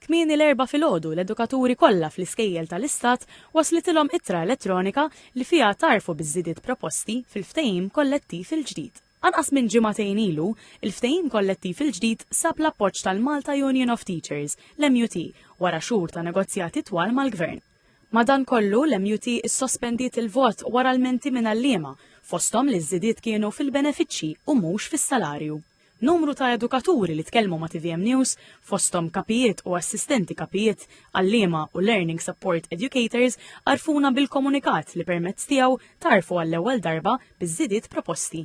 Kmieni l-Erbgħa filgħodu l-edukaturi kollha fl-iskejjel tal-Istat waslitilhom ittra elettronika li fiha għtarfu biż-żidiet proposti fil-ftehim kollettiv il-ġdid. Anqas minn ġimagħtejn ilu, il-ftehim kollettiv il-ġdid sab l-appoġġ tal-Malta Union of Teachers, l-MUT, wara xhur ta' negozjati twal mal-Gvern. Madankollu, l-MUT issospendiet il-vot wara lmenti minn għalliema, fosthom li ż-żidiet kienu fil-benefiċċji u mhux fis-salarju. Numru ta' edukaturi li tkellmu ma' tvm News, fosthom kapijiet u assistenti kapijiet, għalliema u learning support educators għarrfuna bil-komunikat li permezz tiegħu tgħarrfu għall-ewwel darba biż-żidiet proposti.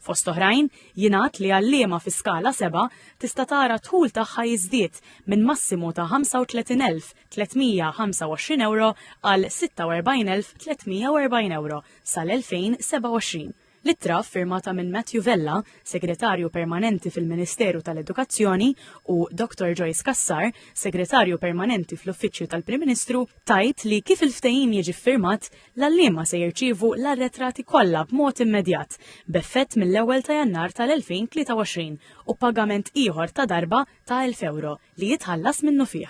Fost oħrajn, jingħad li għalliema fi Skala Seba' tista' tara d-dħul tagħha jiżdied minn massimu ta' 35,325 ewro għal 46,340 ewro sal-2027. L-ittra, ffirmata minn Matthew Vella, Segretarju Permanenti fil-Ministeru tal-Edukazzjoni, u Dr. Joyce Cassar, Segretarju Permanenti fl-Uffiċċju tal-Prim Ministru, tgħid li kif il-ftehim jiġi ffirmat, l-għalliema se jirċievu l-arretrati kollha b'mod immedjat, b'effett mill-ewwel ta' Jannar tal-2023, u pagament ieħor ta' darba ta' elf ewro, li jitħallas minnufih.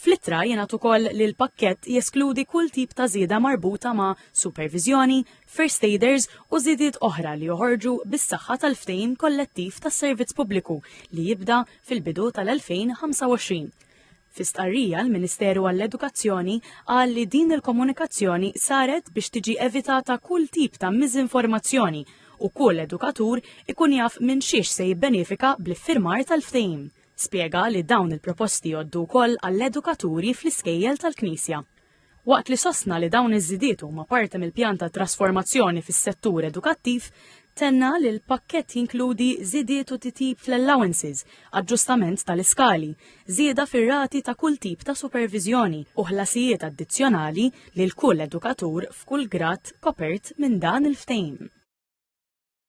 Fl-ittra jingħad ukoll li l-pakkett jeskludi kull tip ta' żieda marbuta ma' superviżjoni, first aiders u żidiet oħra li joħorġu bis-saħħa tal-ftehim kollettiv tas-servizz pubbliku li jibda fil-bidu tal-2025. Fi stqarrija l-Ministeru għall-Edukazzjoni qal li din il-komunikazzjoni saret biex tiġi evitata kull tip ta' miżinformazzjoni u kull edukatur ikun jaf minn xiex se jibbenefika bl-iffirmar tal-ftehim. Spjega li dawn il-proposti jgħoddu wkoll għall-edukaturi fl-iskejjel tal-Knisja. Waqt li sostna li dawn iż-żidiet huma parti mill-pjan ta' trasformazzjoni fis-settur edukattiv, tenna li l-pakkett jinkludi żidiet u titjib fl-allowances, aġġustament tal-iskali, żieda fir-rati ta' kull tip ta' superviżjoni u ħlasijiet addizzjonali lil kull edukatur f'kull grad kopert minn dan il-ftehim.